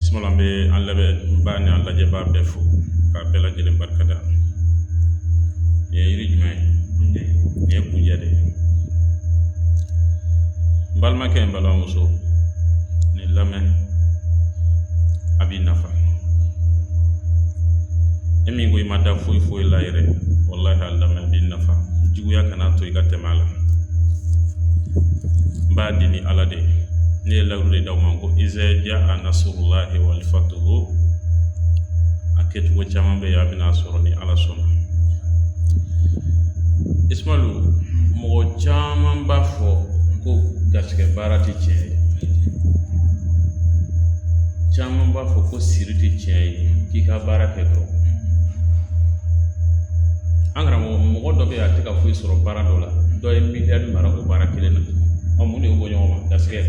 bisimila n bɛ an lamɛnbaa ni an lajɛbaa bɛɛ fo k'a bɛɛ lajɛlen barika da nin ye yiri jumɛn ye nin ye kunjɛ de ye n balimakɛ n balimamuso nin lamɛn a b'i nafa e min ko i ma da foyi foyi la yɛrɛ walahi a lamɛn b'i nafa juguya kana to i ka tɛmɛ a la n b'a di ni ala de ye ne ye layiru de d'aw ma ko iza jaa nasrullahi wal fathu a kɛcogo caman bɛ yen a bɛna sɔrɔ ni ala sɔnna ismalu mɔgɔ caman b'a fɔ ko garisɛgɛ baara tɛ tiɲɛ ye caman b'a fɔ ko siri tɛ tiɲɛ ye k'i ka baara kɛ dɔrɔn nka mɔgɔ dɔ bɛ yen a tɛ ka foyi sɔrɔ baara dɔ la dɔ ye miliyari mara o baara kelen na ɔ mun de y'o bɔ ɲɔgɔn ma garisɛgɛ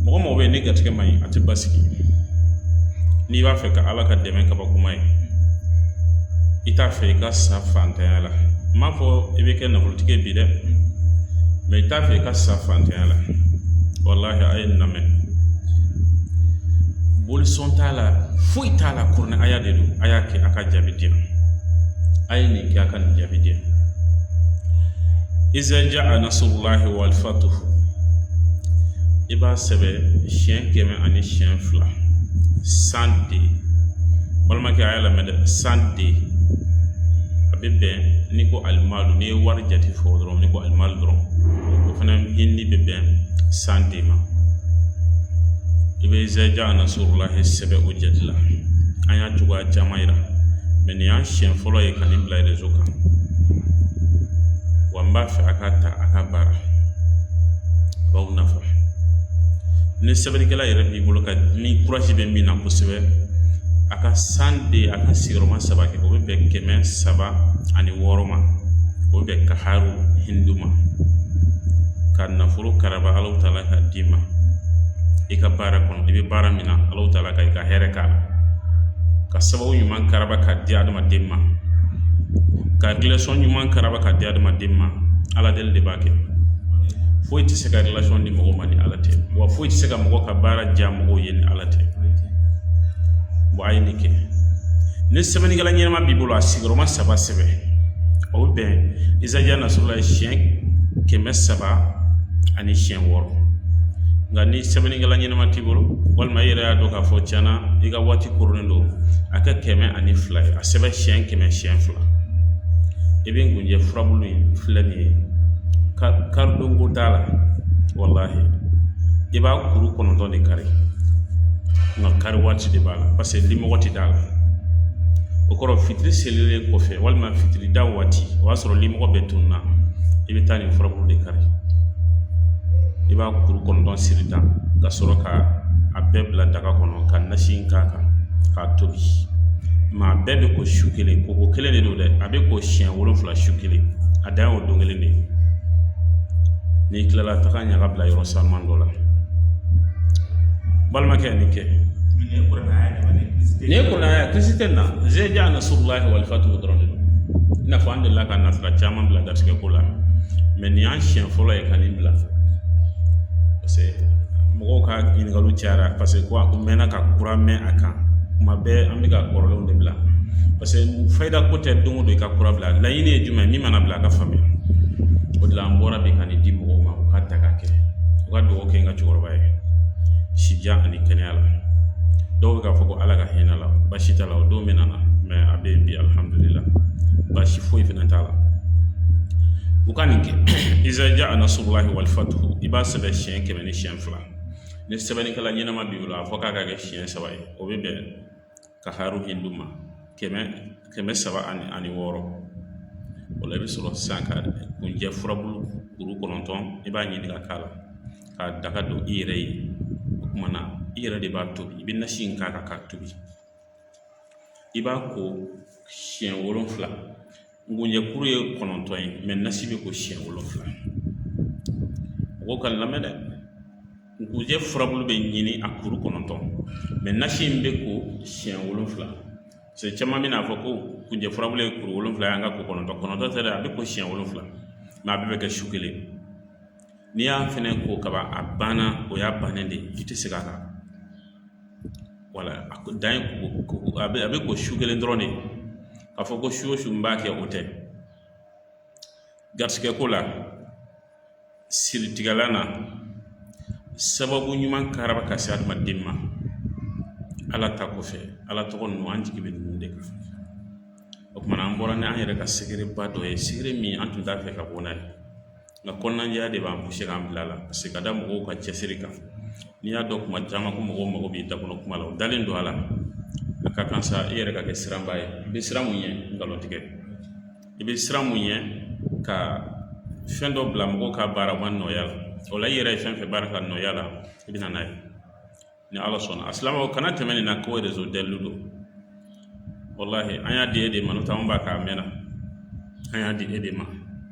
mɔgɔ mɔgɔ bɛ yen ni garisɛgɛ man ɲi a tɛ basigi n'i b'a fɛ ka ala ka dɛmɛ kabakoma ye i t'a fɛ i ka sa fantanya la n m'a fɔ i bɛ kɛ nafolotigi ye bi dɛ mɛ i t'a fɛ i ka sa fantanya la walahi a ye nin lamɛn boli sɔn t'a la foyi t'a la kuranɛ aya de don a y'a kɛ a ka jaabi di yan a ye nin kɛ a ka nin jaabi di yan iza jaa nasrullahi wal fathu i b'a sɛbɛ siɲɛ kɛmɛ ani siɲɛ fila san de balimakɛ a y'a lamɛn dɛ san de a bɛ bɛn n'i ko alimalu n'i ye wari jate fɔ dɔrɔn n'i ko alimalu dɔrɔn o fana hindi bɛ bɛn san de ma i bɛ iza jaa nasrullahi sɛbɛ o jate la an y'a cogoya caman yira mɛ nin y'an siɲɛ fɔlɔ ye ka nin bila rezo kan wa n b'a fɛ a k'a ta a k'a baara a b'aw nafa ni sɛbɛnnikɛla yɛrɛ b'i bolo ka ni kurasi bɛ min na kosɛbɛ a ka san de a ka sigiyɔrɔma saba kɛ o bɛ bɛn kɛmɛ saba ani wɔɔrɔ ma o bɛ bɛn kaharu hindu ma ka nafolo karaba ala taala ka d'i ma i ka baara kɔnɔ i bɛ baara min na ala taala ka i ka hɛrɛ k'a la ka sababu ɲuman karaba ka di adamaden ma ka relasiyɔn ɲuman karaba ka di adamaden ma ala deli de b'a kɛ foyi tɛ se ka relasiyɔn di mɔgɔ ma ni ala tɛ wa foyi tɛ se ka mɔgɔ ka baara diya mɔgɔw ye ni ala tɛ a ye nin kɛ ni sɛbɛnnikɛla ɲɛnama b'i bolo a sigiyɔrɔma saba sɛbɛn o bɛ bɛn iza jaa nasrullahi siɲɛ kɛmɛ saba ani siɲɛ wɔɔrɔ nka ni sɛbɛnnikɛla ɲɛnama t'i bolo walima i yɛrɛ y'a dɔn k'a fɔ tiɲɛna i ka waati koronnen don a kɛ kɛmɛ ani fila ye a sɛbɛn siyɛn kɛmɛ siyɛn fila i bɛ ngunjɛ furabulu in filɛ nin ye kari don ko t'a la walahi i b'a kuru kɔnɔntɔn de kari nka kari waati de b'a la paseke limɔgɔ tɛ d'a la o kɔrɔ fitiri selilen kɔfɛ walima fitiri da waati o y'a sɔrɔ limɔgɔ bɛɛ tununna i bɛ taa nin furabulu de kari i b'a kuru kɔnɔntɔn siri tan ka sɔrɔ ka a bɛɛ bila daga kɔnɔ ka nasi k'a kan k'a tobi mɛ a bɛɛ bɛ ko su kelen ko ko kelen de don dɛ a bɛ ko siɲɛ wolonwula su kelen a dan ye o don kelen de ye n'i kilala taga ɲaga bila yɔrɔ sanuman dɔ la balimakɛ nin kɛ nin ye kuranɛ aya kirisi tɛ na izaja nasurulahi walifatuhu dɔrɔn de don i n'a fɔ an delila ka nasira caman bila garisɛgɛ ko la mɛ nin y'an siɲɛ fɔlɔ ye ka nin bila mɔgɔw ka ɲininkaliw cayara paseke ko a ko mɛnna ka kura mɛn a kan kuma bɛɛ an bɛ ka kɔrɔlenw de bila parce que fayida ko tɛ don o don i ka kura bila laɲini ye jumɛn ye min mana bila a ka faamuya o de la an bɔra bi ka nin di mɔgɔw ma u ka taa k'a kɛ u ka dugawu kɛ n ka cɛkɔrɔba ye sijan ani kɛnɛya la dɔw bɛ k'a fɔ ko ala ka hinɛ a la baasi t'a la o don min nana mɛ a bɛ yen bi alihamudulila baasi foyi fana t'a la u ka nin kɛ izaja a nasurulahi wali i b'a sɛbɛn siɲɛ kɛmɛ ni siɲɛ fila ni sɛbɛnnikɛla ɲɛnama b'i bolo a fɔ k'a ka kɛ siɲɛ saba ye o bɛ bɛn kaharu hindu ma kɛmɛ saba ani wɔɔrɔ o la i bɛ sɔrɔ sisan ka kunjɛ furabulu kuru kɔnɔntɔn i b'a ɲini ka kila k'a daga don i yɛrɛ ye o kuma na i yɛrɛ de b'a tobi i bɛ nasi in k'a kan k'a tobi i b'a ko siɲɛ wolonwula Nkunjɛ kuru ye kɔnɔntɔn ye mɛ nasi bɛ ko siyɛn wolonwula mɔgɔw k'an lamɛn dɛ nkunjɛ furabulu bɛ ɲini a kuru kɔnɔntɔn mɛ nasi in bɛ ko siyɛn wolonwula paseke caman bɛn'a fɔ ko kunjɛ furabulu ye kuru wolonwula ye ani k'a ko kɔnɔntɔn kɔnɔntɔn tɛ dɛ a bɛ ko siyɛn wolonwula mɛ a bɛɛ bɛ kɛ su kelen n'i y'a fɛnɛ ko kaban a banna o y'a bannen de ye i tɛ segin a kan wala a ko dan ye ko a bɛ a bɛ ko su kelen dɔrɔn de k'a fɔ ko su o su n b'a kɛ o tɛ garisigɛ ko la siritigɛlan na sababu ɲuman karaba ka se adamaden ma ala ta kɔfɛ ala tɔgɔ ninnu an jigi bɛ ninnu de kan o kuma na an bɔra ni an yɛrɛ ka segereba dɔ ye segere min an tun t'a fɛ ka bɔ n'a ye Nka kɔnɔnajɛya de b'an puse k'an bila a la paseke ka da mɔgɔw ka cɛsiri kan n'i y'a dɔn kuma caman ko mɔgɔw mago b'i da kɔnɔ kuma la u dalen don a la a ka kan sa e yɛrɛ ka kɛ siranba ye i bɛ siran mun ɲɛ nkalon tigɛ i bɛ siran mun ɲɛ ka fɛn dɔ bila mɔgɔw ka baara ma nɔgɔya la o la i yɛrɛ ye fɛn fɛn baara ka nɔgɔya la i bɛ na n'a ye Ni ala sɔnna a silamɛw kana tɛmɛ nin na ko réseau dalilu don walahi an y'a di e de ma n'o tɛ anw b'a kɛ a mɛnna an y'a di e de ma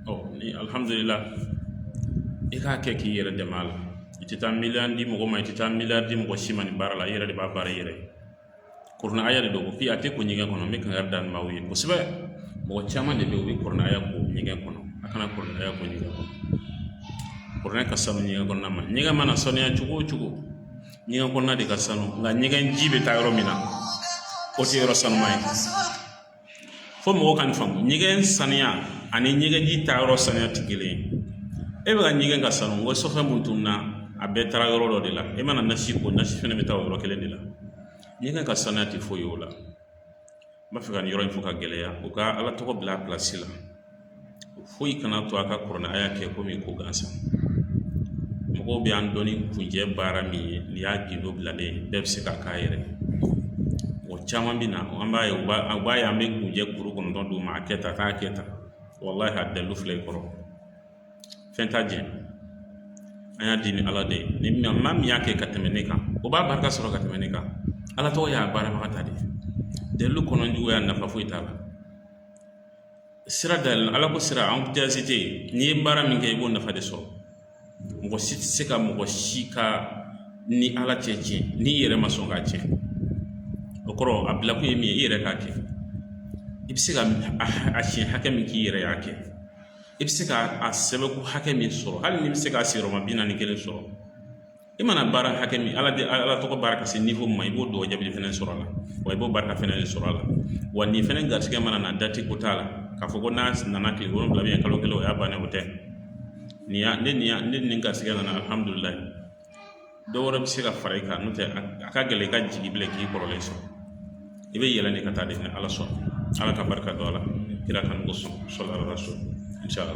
ɔ ni alihamudulila i k'a kɛ k'i yɛrɛ dɛmɛ a la i tɛ taa miliyɔn di mɔgɔ ma i tɛ taa miliyari di mɔgɔ si ma nin baara la i yɛrɛ de b'a baara i yɛrɛ ye Kuranɛ aya de don ko a tɛ ko ɲɛgɛn kɔnɔ n bɛ kankari da maaw ye kosɛbɛ mɔgɔ caman de bɛ u bɛ kuranɛ aya ko ɲɛgɛn kɔnɔ a kana kuranɛ aya ko ɲɛgɛn kɔnɔ kuranɛ ka sanu ɲɛgɛn kɔnɔna ma ɲɛgɛn mana saniya cogo o cogo ɲɛgɛn kɔnɔna de ka sanu nka ɲɛgɛn ji bɛ taa yɔrɔ min na o tɛ yɔrɔ sanuman ye fo mɔgɔw ka nin faamu ɲɛgɛn saniya ani ɲɛgɛnji taayɔrɔ saniya tɛ kelen ye e bɛ ka ɲɛgɛn ka sanu wa sɔfɛn mun tun na a bɛɛ taara yɔrɔ dɔ de la e mana nasi ko nasi fɛnɛ bɛ taa o yɔrɔ kelen de la ɲɛgɛn ka saniya tɛ foyi ye o la n b'a fɛ ka nin yɔrɔ in fɔ k'a gɛlɛya u ka ala tɔgɔ bila a pilasi la foyi kana to a ka kuranɛ aya kɛ komi ko gansan mɔgɔw bɛ an dɔn ni kunjɛ baara min ye n'i y'a gindo bilalen ye bɛɛ bɛ se k'a k'a yɛrɛ ye o caman bɛ na an b'a ye u b'a u b'a ye an bɛ kunjɛ kuru kɔnɔntɔn d'u ma a kɛ tan a k'a kɛ tan walahi a dalilu filɛ i kɔrɔ fɛn t'a jɛ an y'a di ni ala de ye ni min maa min y'a kɛ ka tɛmɛ ne kan o b'a barika sɔrɔ ka tɛmɛ ne kan ala tɔgɔ y'a baarabaga ta de ye dalilu kɔnɔ juguya nafa foyi t'a la sira da yɛlɛ ala ko sira an tɛ se tɛ yen n'i ye baara min kɛ i b'o nafa de sɔrɔ mɔgɔ si tɛ se ka mɔgɔ si ka ni ala cɛ tiɲɛ n'i yɛrɛ ma sɔn k'a tiɲɛ o kɔrɔ a bilakun ye min ye i yɛrɛ k'a kɛ i bɛ se ka a siɲɛ hakɛ min k'i yɛrɛ y'a kɛ i bɛ se ka a sɛbɛnko hakɛ min sɔrɔ hali n'i bɛ se k'a sigiyɔrɔma bi naani kelen sɔrɔ i mana baara hakɛ min ala de ala tɔgɔ baara ka se niveau ma i b'o dugawu jaabi fana sɔrɔ a la wa i b'o barika fɛnɛ de sɔrɔ a la wa nin fɛnɛ garisigɛ mana na dati ko t'a la k'a fɔ ko n'a nana kile wolonwula bɛ kalo kelen o y'a bannen o tɛ nin y'a ne nin y'a ne nin garisigɛ nana alihamudulilayi dɔ wɛrɛ bɛ se ka fara i kan n'o tɛ a ka gɛlɛn i ka jigin bilen k'i kɔrɔlen sɔrɔ i bɛ yɛlɛ de ka taa dɛ ni ala sɔnna ala ka barika don a la kira kanu kɔsɔn sɔlu ala rasul inshallah